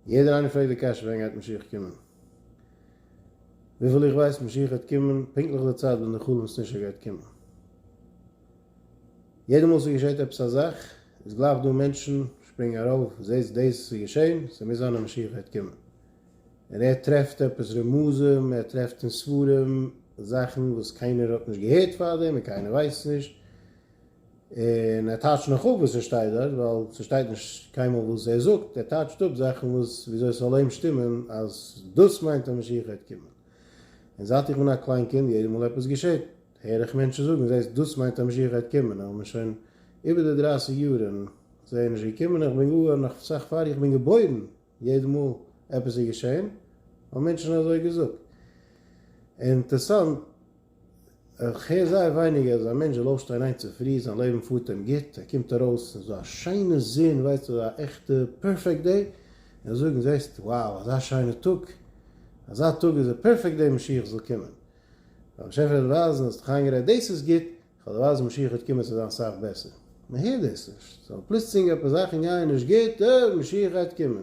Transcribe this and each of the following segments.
יעדער איינער פרעגט די קשיא ווען גייט משיח קומען? וויפיל איך ווייס משיח וועט קומען פונקטליך די צייט ווען די חלום סנשר גייט קומען. יעדע מאל ס'געשעהט עפעס א זאך איז גלייך דא מענטשן שפרינגען ארויף זעהטס דאס איז געשעהן ס'מוז זיין אז משיח גייט קומען. און ער טרעפט עפעס רמזים ער טרעפט אין ספרים זאכן וואס קיינער האט נישט געהערט פארדעם און קיינער ווייסט נישט און ער טייטשט נאך אפ וואס ער שטייט דארט, ווייל ס'שטייט נישט קיינמאל וואס ער זאגט, ער טייטשט אפ זאכן וואס וויאזוי ס'זאל אים שטימען אז דאס מיינט אז משיח גייט קומען. און זייט איך בין א קליין קינד, יעדע מאל עפעס געשעט, הער איך מענטשן זאגן, זעסט, דאס מיינט אז משיח גייט קומען, אבער מ'איז שוין איבער די דרייסיג יאר און זיי איז נישט געקומען, איך בין גאר נאך אסאך פאר איך בין געבוירן, יעדע מאל עפעס איז געשען, האבן מענטשן אזוי געזאגט. אינטערסאנט. איך הער זייער ווייניג אז א מענטש זאל אויפשטיין היינט צופרי, זיין לעבן פארט אים גוט, ער קומט ארויס אין אזא שיינע זון, ווייסט אזא עכטע פערפעקט דעי, און זאגן זעסט וואו אזא שיינע טאג, אזא טאג איז א פערפעקט דעי משיח זאל קומען, ווייל באשעפער וועט ווייזן אז האסט איינגערעדט דאס איז גוט, איך וועל דיר ווייזן משיח וועט קומען ס'זאל זיין סאך בעסער, מען הערט דאס נישט, ס'זאל פלוצלינג עפעס זאכן גייען נישט גוט, אה משיח גייט קומען.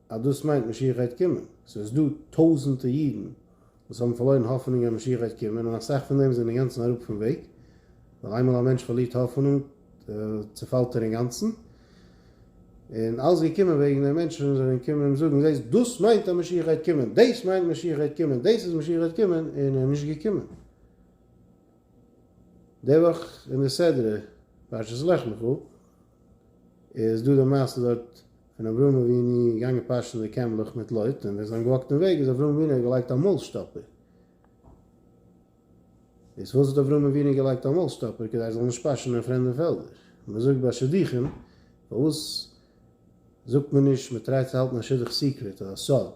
אז דאס מיינט משיח גייט קומען, ס'איז דא טויזענטע אידן וואס האבן פארלוירן האפענונג אז משיח גייט קומען און אסאך פון דעם זענען אינגאנצן אראפ פון וועג, ווייל איינמאל א מענטש פארלירט האפענונג צופאלט ער אינגאנצן, און אלעס געקומען וועגן די מענטשן זענען קומען אים זאגן זעסט דאס מיינט אז משיח גייט קומען, דאס מיינט משיח גייט קומען, דאס איז משיח גייט קומען, און ער איז נישט געקומען. די וואך אין די סדרה פרשת לך לך איז דא די מעשה דארט פון אברהם אבינו געגאנגען פאשען די קעמלעך מיט לוט און ווען זיי האבן געוואקט אין וועג איז אברהם אבינו געלייגט א מויל שטאפער. איז פארוואס האט אברהם אבינו געלייגט א מויל שטאפער כדי ער זאל נישט פאשען אין פרעמדע פעלדער? מען זאגט ביי שידוכים פארוואס זאגט מען נישט מען טרייט צו האלטן א שידוך סיקרעט אדער סוד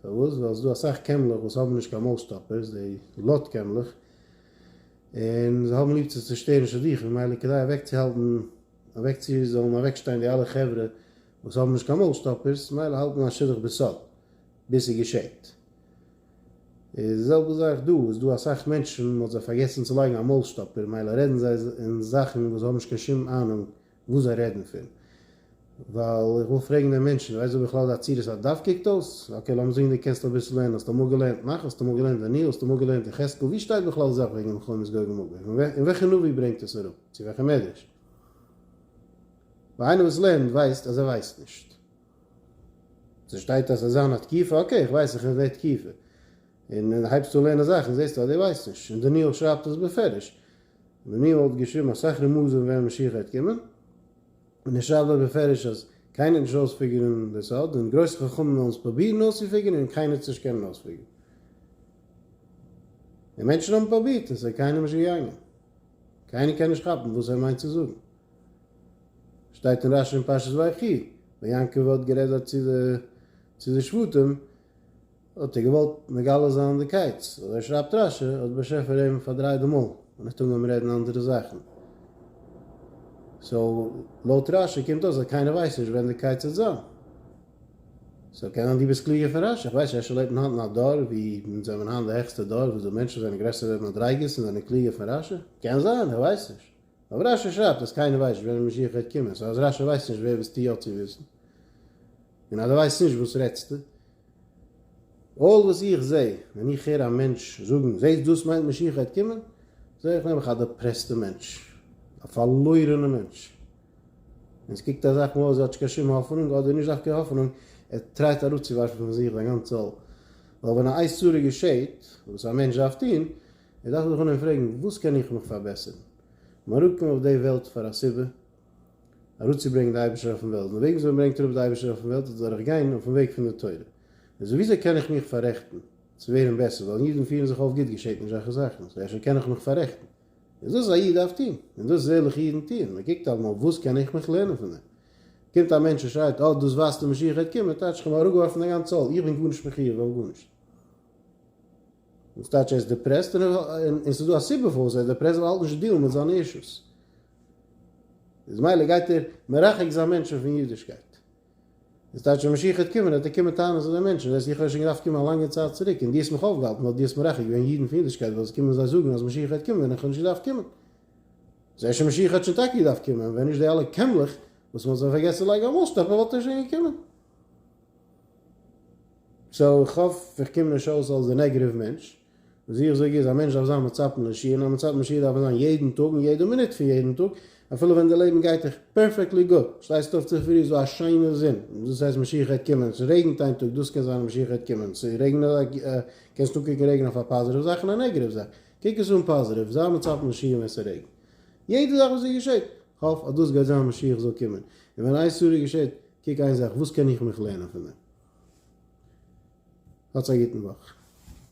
פארוואס ווייל ס'איז דא אסאך קעמלעך וואס האבן נישט קיין מויל שטאפערס די לוט קעמלעך און זיי האבן ליב צו צושטערן שידוכים ממילא כדי אוועקצוהאלטן אוועק צו זאלן אוועקשטיין די אלע חברה וואס האבן נישט קיין מויל שטאפערס ממילא האלט מען א שידוך בסוד ביז ס'געשעט איז די זעלבע זאך דא איז דא אסאך מענטשן מ'האט זיי פארגעסן צו לייגן א מויל שטאפער ממילא רעדן זיי אין זאכן וואס זיי האבן נישט קיין שום אהנונג וואס זיי רעדן פון, ווייל איך וויל פרעגן דעם מענטשן, ווייסט דו בכלל די עצירות א דף קוקט אויס? אקעי לאמיר זאגן דו קענסט אביסל לערנען, האסט אמאל געלערנט נחש? האסט אמאל געלערנט דניאל? האסט אמאל געלערנט יחזקאל? ווי שטייט בכלל די זאך וועגן מלחמת גוג ומגוג? און וועלכע נביא ברענגט עס אראפ? צו וועלכע מדרש? ווייל איינער וואס לערנט ווייסט אז ער ווייסט נישט. ס'שטייט אז ס'זאל זיין א תקיפה, אקעי איך ווייס איך די תקיפה. און הייבסט אן לערנען זאכן זעסטו אז דו ווייסט נישט, און דניאל שרייבט עס בפירוש. מעניו האט געשריבן, אסאך רמזים ווען משיח גייט קומען, און ער שרייבט דארט בפירוש אז קיינער האט נישט אויספיגערן די סוד, און גרויסע חכמים וועלן עס פרובירן אויסצופיגערן און קיינער האט עס נישט קענען אויספיגערן. און מענטשן האבן פרובירט און עס איז קיינעם נישט געגאנגען. קיינער קען נישט כאפן וואס ער מיינט צו זאגן. שטייט אין רשי אין פרשת ויחי ווען יעקב האט גערעדט דארט צו די שבטים, האט ער געוואלט מגלה זיין די קייטס, אזוי שרייבט רש י, האט באשעפער אים פארדרייט די מויל און האט אנגעהויבן רעדן אנדערע זאכן. סאו לויט רש י קומט אויס אז קיינער ווייסט נישט ווען די קייטס וועט זיין. סאו קען זיין דו ביסט קלוגער פון רש י, איך ווייס נישט, רש י לעבט אין היינט אין א דור ווי אונז זעמיר היינט די העכסטע דור, וואס די מענטשן זענען גרעסערע מדריגות און זענען קלוגער פון רש י? קען זיין, איך ווייס נישט. אבער רש י שרייבט אז קיינער ווייסט נישט ווען דער משיח וועט קומען, סאו אז רש י ווייסט נישט ווער וועסטו יא צו וויסן? און אז דו ווייסט נישט וואס רעדסטו? אלל וואס איך זע ווען איך הער א מענטש זאגן זעסט דאס מיינט משיח וועט קומען, זע איך נעבעך א דעפרעסטע מענטש, א פארלוירענע מענטש, און עס קוקט אזאך מאל אויס ווי ער האט נישט קיין שום האפענונג, אדער נישט דווקא האפענונג, ער טרייט אראפצואווארפן פון זיך זיין גאנצע עול, ווייל ווען א איסור געשעט, וואס א מענטש דארף טון, ער דארף זיך אנהייבן פרעגן, וואס קען איך מיך פארבעסערן? מען האט אנגעקומען אויף די וועלט פאר א סיבה, אראפצוברענגן די אייבערשטער אויפן וועלט, און וועגן וואס מען ברענגט אראפ די אייבערשטער אויפן וועלט איז דורך גיין אויפן וועג פון די תורה, און סאו וויאזוי קען איך מיך פאררעכטן צו ווערן בעסער, ווייל אידן פירן זיך אויף גוט געשעט נישט אזעלכע זאכן, סאו אפשר קען איך מיך פאררעכטן, איז דאס א איד דארף טון, און דאס איז ערליכע אידן טוען, מען קוקט אלעמאל וואס קען איך מיך לערנען פון דעם, קומט א מענטש און שרייט אה דאס ווייזט די משיח גייט קומען, טייטש איך האב אראפגעווארפן דיין גאנצע עול, איך בין גארנישט מחויב אויף גארנישט. וואס טייטש ער איז דיפרעסט און און ס'איז דא א סיבה פארוואס ער איז דיפרעסט ווייל ער האלט נישט צו דיעלן מיט זיינע אישוס איז מילא גייט ער מרחק זיין מענטשן פון אידישקייט איז טייטש ווען משיח וועט קומען וועט ער קומען טענה'ן צו די מענטשן דאס איך האב שוין געדארפט קומען א לאנגע צייט צוריק און דו האסט מיך אויפגעהאלטן ווייל דו האסט מרחק געווען אידן פון אידישקייט ווייל עס קומען זיי זאגן אז משיח וועט קומען ווען איך האב נישט געדארפט קומען זעה שוין משיח האט שוין טאקע געדארפט קומען ווען נישט די אלע קעמלעך וואס מען האט זיי פארגעסן לייגן א מאסטאפ וואלט ער שוין געקומען סאו איך האף איך קום נישט אויס אלס די נעגעטיוו מענטש. וואס איך זאג איז א מענטש דארף זיין מצפן לשיר און א מצפן לשיר דארף ער זיין יעדן טאג און יעדע מינוט פון יעדן טאג אפילו ווען די לעבן גייט דיך פערפעקטלי גוט. שטייסט אויף צופרי איז דא א שיינע זון דאס הייסט משיח העט קומען. ס'רעגנט איין טאג דאס קען זיין אז משיח העט קומען. ס'רעגנט קענסט אנקוקן רעגן אויף א פאזיטיוו זאך און א נעגעטיוו זאך. קוק עס אן פאזיטיוו. זיי מצפן לשיר ווען ס'רעגנט. יעדע זאך וואס ס'געשעט. האף אז דאס גייט זיין משיח זאל קומען. און ווען איין סעודה געשעט. קוק איין זאך, וואס קען איך מיך לערנען פון דעם? האטס א גוטן וואך.